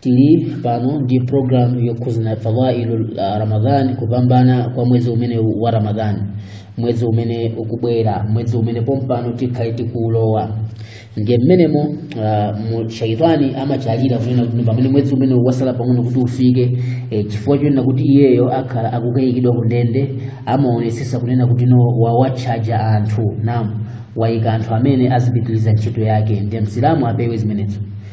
tili pano ndi programu yokhuzana fadailu uh, ramadhani kupambana kwa mwezi umenewu wa ramadhani mwezi umene ukubwera mwezi umene pompano tikhale tikuulowa ndiye mmenemo uh, mu- shaitani amachalira kunena kuti pamene mwezi umenewu wasala pang'ono kuti ufike eh, chifukwa chonena kuti iyeyo akhala akukaikidwa kundende amaonesesa kunena kuti no wawatchaja anthu namu wayika anthu amene azipitiliza ntchito yake ndiye msilamu apewe zimenezo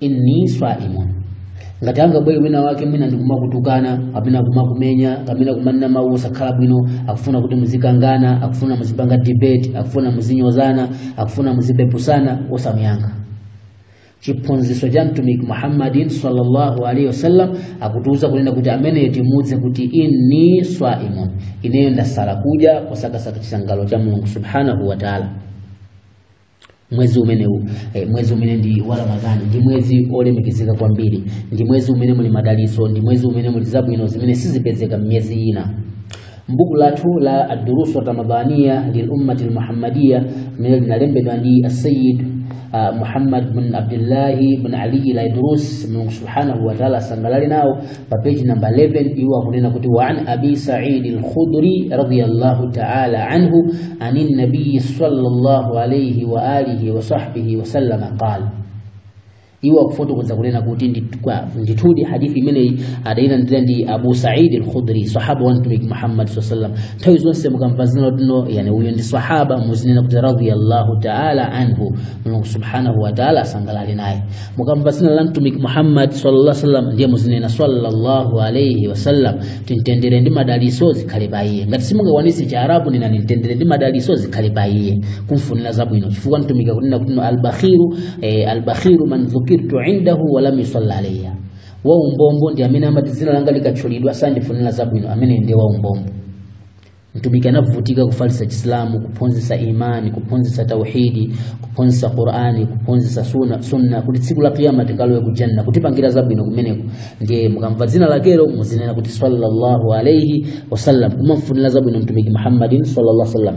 inni saimun ngati angabwere wina wake mwina ndikumakutukana kapena kumakumenya kapena kumanena mawu osakhala bwino akufuna kuti muzikangana akufuna muzipanga debate akufuna muzinyozana akufuna muzipeputsana osamuyankha chiphunzitso cha mtumiki muhammadin sallallahu alaihi wasallam akutiuza kunena kuti ameneyo timuuze kuti inni swaimun ineyo ndasala kudya kusakasaka chisangalalo cha mulungu subhanahu wa taala mwezi umenewu eh, mwezi umene ndi wa ramadhani ndi mwezi olemekezeka kwambiri ndi mwezi umene muli madalitso ndi mwezi umene muli zabwino zimene sizipezeka m'miyezi ina mbuku lathu la adurusu ramadhaniya lilummati lmuhammadiya limene linalembedwa ndi asayid uh, muhammad bin abdillahi bin aliyi laidrus mulungu subhanahu wataala asangalale nawo pa page number 11 iwo akunena kuti wa an abi sa'id al-khudri radiyallahu ta'ala anhu anin nabiy sallallahu alayhi wa alihi wa sahbihi wa sallama qala iwo akufotokoza kunena kuti nditukwa- ndithudi hadithi imeneyi adayilandira ndi abu saidi al-khudri sahaba wa mtumiki muhammad sallallahu alaihi wasallam nthawi zonse mukamva dzina loti no yani uyu ndi sahaba muzinena kuti radiyallahu taala anhu mulungu subhanahu wa taala asangalale naye mukamva dzina la mtumiki muhammad sallallahu alaihi wasallam ndiye muzinena sallallahu alaihi wasallam mtendere ndi madaliso zikhale pa iye ngati simungakwanitse chiarabu nenani mtendere ndi madaliso zikhale pa iye kumfunira zabwino chifukwa mtumiki akunena kuti albakhiru eh, albakhiru man dhukirtu indahu walam yusalla alayya waumbombo ndi amene amati dzina langa likatchulidwa sandifunira zabwino amene ndiye waumbombo mtumiki anavutika kufalitsa chisilamu kuphunzitsa imani kuphunzitsa tauhidi kuphunzitsa qurani kuphunzitsa sunna kuti tsiku la kiyama tikalowe kujanna kutipangira zabwino kumeneko ndiye mukamva dzina lakelo muzinena kuti sallallahu alaihi wasallam kumamfunira zabwino mtumiki muhammadin sallallahu alaihi wasallam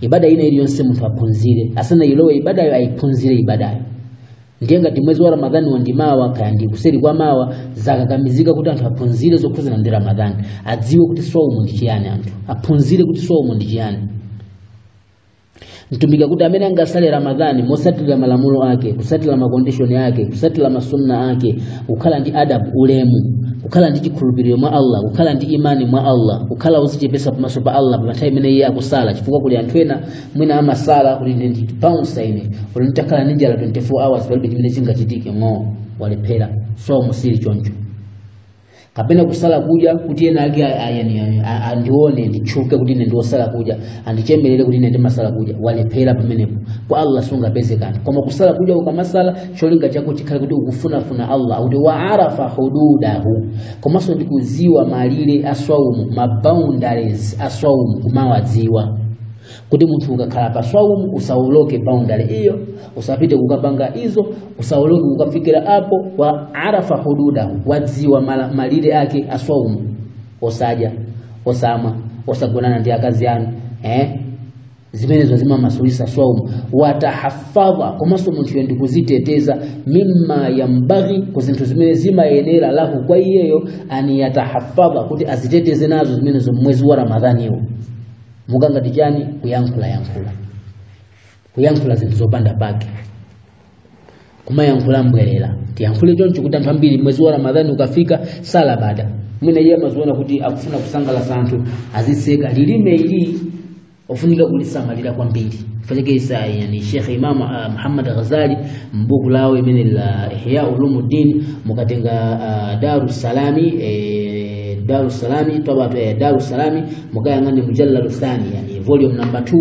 ibada ina iliyonse munthu aphunzire asanayilowe ibadayo ayiphunzire ibadayo ndiye ngati mwezi wa ramadhani wandimawa kaya ndi kuseri kwa mawa zakakamizika kuti anthu aphunzire zokhudzana ndi ramadhani adziwe kuti swaumu ndi chiyani anthu aphunzire kuti swaumu ndi chiyani mtumiki akuti amene angasale ramadhani mosatira malamulo ake kusatira makondishoni ake kusatira masunna ake kukhala ndi adabu ulemu kukhala ndi chikhulupiriro mwa allah kukhala ndi imani mwa allah kukhala kuzichepesa pamaso pa allah pa nthawi imene iye akusala chifukwa kuli anthu ena mwina amasala kuti ine ndi bounsa ine kuti nditakhala ndi njala 24 hours palibe chimene chingachitike ng'oo walephera swaumu sili choncho kapena kusala kudya kuti ena ake a- a- yani- yani- a- andione nditchuke kuti ine ndiwosala kudya andichemerere kuti ine ndimasala kudya walephera pamenepo kwa allah sungapeze kanthu koma kusala kudya ukamasala cholinga chako chikhale kuti ukufunafuna allah akuti wa arafa hududahu komanso ndikudziwa malire a swaumu ma boundaries a swaumu kumawadziwa kuti munthu ukakhala pa swaumu usawoloke boundary iyo usapite kukapanga izo usawoloke kukafikira apo wa arafa hududahu wadziwa mala- malire ake a swaumu osadya osamwa osagonana ndi akazi anu eh? zimenezo zimamasulisa swaumu watahafadha komanso munthuyo ndi kuziteteza mimma yanbaghi ku zinthu zimene zimayenera lahu kwa iyeyo an yatahafadha kuti aziteteze nazo zimenezo mmwezi wa ramadhaniwo monga ngati chani kuyankhulayankhula kuyankhula zinthu zopanda pake kumayankhula mbwerera tiyankhule choncho kuti anthu ambiri mwezi wa ramadhani ukafika m'salabada mwina iye amaziona kuti akufuna kusangalatsa anthu aziseka lilime ili ofunika kulisamalira kwambiri faniki zake yani shekhe imamu uh, muhammad ghazali mbuku lawo limene la ihya ulumuddin mukatenga uh, darusalami eh, darusalami toba eh, darusalami mukayang'ane mujalladu thani yani volume number 2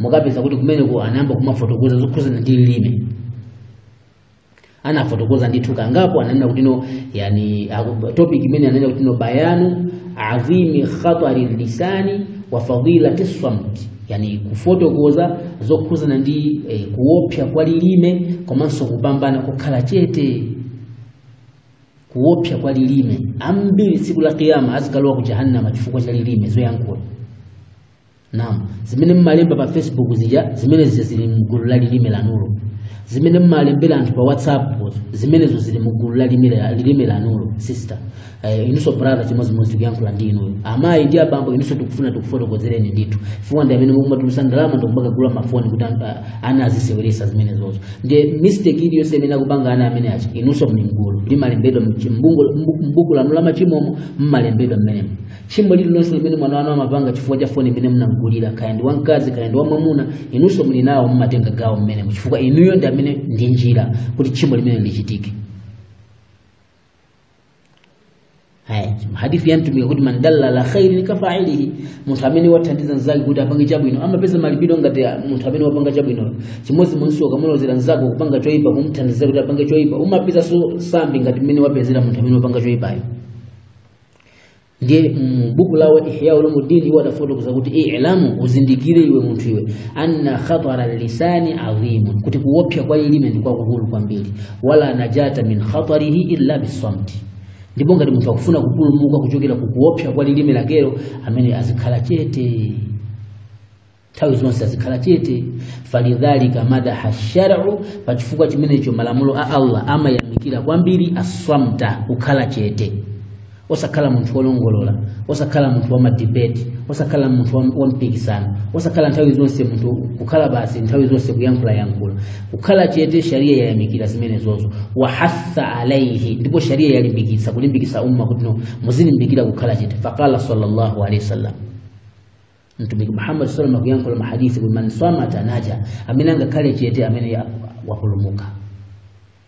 mukapeza kuti kumeneko anayamba kumafotokoza zokhuzana ndi lilime anafotokoza ndithu kangapo ananena kuti no yani aku- topic imene ananena kuti no bayanu azimi khatari lisani wa fadilati samt yani kufotokoza zokhuzana ndi eh, kuopsa kwa lilime komanso kupambana kukhala chete kuopsa kwa lilime ambiri tsiku la kiyama azikalowa ku jahannama chifukwa cha lilime zoyankhula naam zimene mmalemba pa facebook zija zimene zija zili mgulu la lilime lanulo zimene mmalembera anthu pa whatsapp zimenezo zili mgulu la lilime la- lilime lanulo sister eh, inunso brother chimodzimodzi tikuyankhula ndi inuyo amayi ndi abambo inunso tikufuna tikufotokozereni ndithu chifukwa ndi amene mukumatulusa ndalama ndikumakagula mafoni kuti anthu- ana aziseweresa zimenezozo ndiye mistake iliyonse imene akupanga ana amene aja inunso muli mgulu limalembedwa mbuku lanu la machimomo mmalembedwa mmenemo tchimo lililonse limene mwana wanu amapanga chifukwa cha foni imene munamgulira kaya ndi wamkazi kaya ndi wamwamuna inunso muli nawo mmatenga gawo mmenemo chifukwa inuyo ndi amene ndi njira kuti tchimo limene lichitike Haya, hadithi ya mtumiki akuti man dalla ala khairin ka fa'ilihi, munthu amene wathandiza mzake kuti apange chabwino amapeza malipiro ngati munthu amene wapanga chabwino. Chimodzi inunso ukamulozera mnzako kupanga choipa kumthandiza kuti apange choipa, umapezanso sambi ngati mmene wapezera munthu amene wapanga choipayo. ndiye mu buku lawo ihya ulumuddin iwo adafotokoza kuti ilamu uzindikire iwe munthu iwe anna khatara lisani adhimun kuti kuopsa kwa lilime ndi kwakukulu kwambiri wala najata min khatarihi illa bisamti ndipo ngati munthu akufuna kupulumuka kuchokera ku kuopsa kwa lilime lakelo amene azikhala chete nthawi zonse azikhala chete falidhalika madaha shar'u pa chifukwa chimenecho malamulo a allah amayamikira kwambiri aswamta kukhala chete osakhala munthu wolongolola osakhala munthu wa madibeti osakhala munthu wa mpikisano osakhala nthawi zonse munthu kukhala basi nthawi zonse kuyankhulayankhula kukhala chete sharia yayamikira zimenezozo wahatha alaihi ndipo sharia yalimbikitsa kulimbikitsa umma kuti no muzilimbikira kukhala chete faqala sallallahu alaihi wasallam mtumiki muhammad sallam akuyankhula mahadithi kuti man samata naja amene angakhale chete ameneyo wapulumuka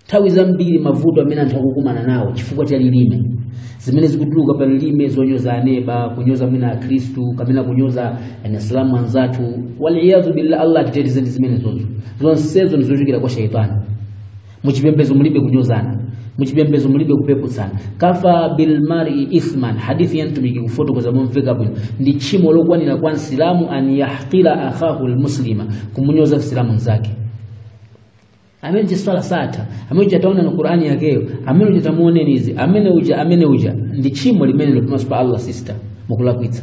nthawi zambiri mavuto amene anthu akukumana nawo chifukwa cha lilime zimene zikutuluka pa lilime zonyoza aneba kunyoza mwina akhristu kapena kunyoza anasilamu anzathu waliyadhu billah allah atiteteze ndi zimenezozo zonsezo ndizochokera kwa shaitani muchipembezo mulibe kunyozana muchipembezo mulibe kupeputsana kafa bilmari ithman hadithi ya mtumiki kufotokoza momveka bwino ndi tchimo lokwanira kwa msilamu an yahqira akhahu lmuslima kumunyoza msilamu mzake amene kuswali satha amene uja taona na qurani yakeyo amene uja tamuoneni izi amene uja amene uja ndi tchimo limenelo pamaso pa allah sister mukulakwitsa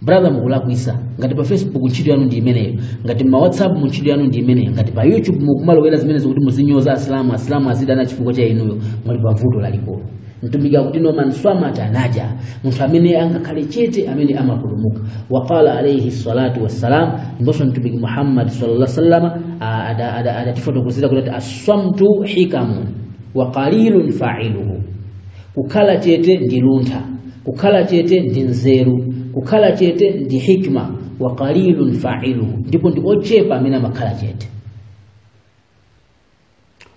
brother mukulakwitsa ngati pa facebook ntchito yanu ndi imeneyo ngati ma whatsapp mu ntchito yanu ndi imeneyo ngati pa youtube mukumalowera zimenezo kuti muzinyoza asilamu asilamu azidana chifukwa cha inuyo muli pa vuto lalikulu mtumiki akuti no man swamata naja munthu amene angakhale chete amene amapulumuka waqala alaihi salatu wassalam ndiponso mtumiki muhammad sallallahu sallam adatifotokozera kuti ati aswamtu hikamun wa qalilun failuhu kukhala chete ndi luntha kukhala chete ndi nzeru kukhala chete ndi hikma wa qalilun fa'iluhu ndipo ndi ochepa amene amakhala chete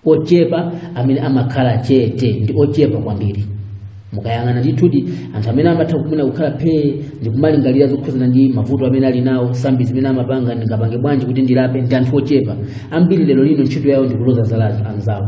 ochepa amene amakhala chete ndi ochepa kwambiri mukayang'ana ndithudi anthu amene amatha kumene kukhala phee ndi kumalingalira zokhudzana ndi mavuto amene ali nawo sambi zimene amapanga ndingapange bwanji kuti ndilape ndi anthu ochepa ambiri lero lino ntchito yawo ndi kuloza zala anzawo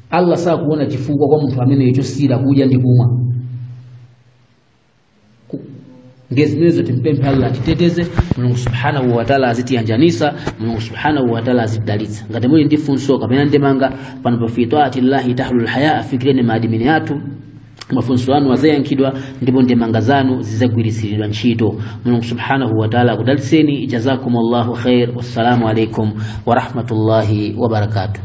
allah sakuona chifukwa kwa munthu ameneyo chosiyira kudya ndi kumwa ndiye zimenezo timpemphe allah atiteteze mulungu subhanahu wataala azitiyanjanisa mulungu subhanahu wataala azitidalitsa ngati muli ndi funso kapena ndemanga pano pa fi taati llahi tahlul haya afikireni maadimini athu mafunso anu azayankhidwa ndipo ndemanga zanu zizagwiritsiridwa ntchito mulungu subhanahu wataala akudalitseni jazakum llahu khair wassalamu alaikum warahmatullahi wabarakatuh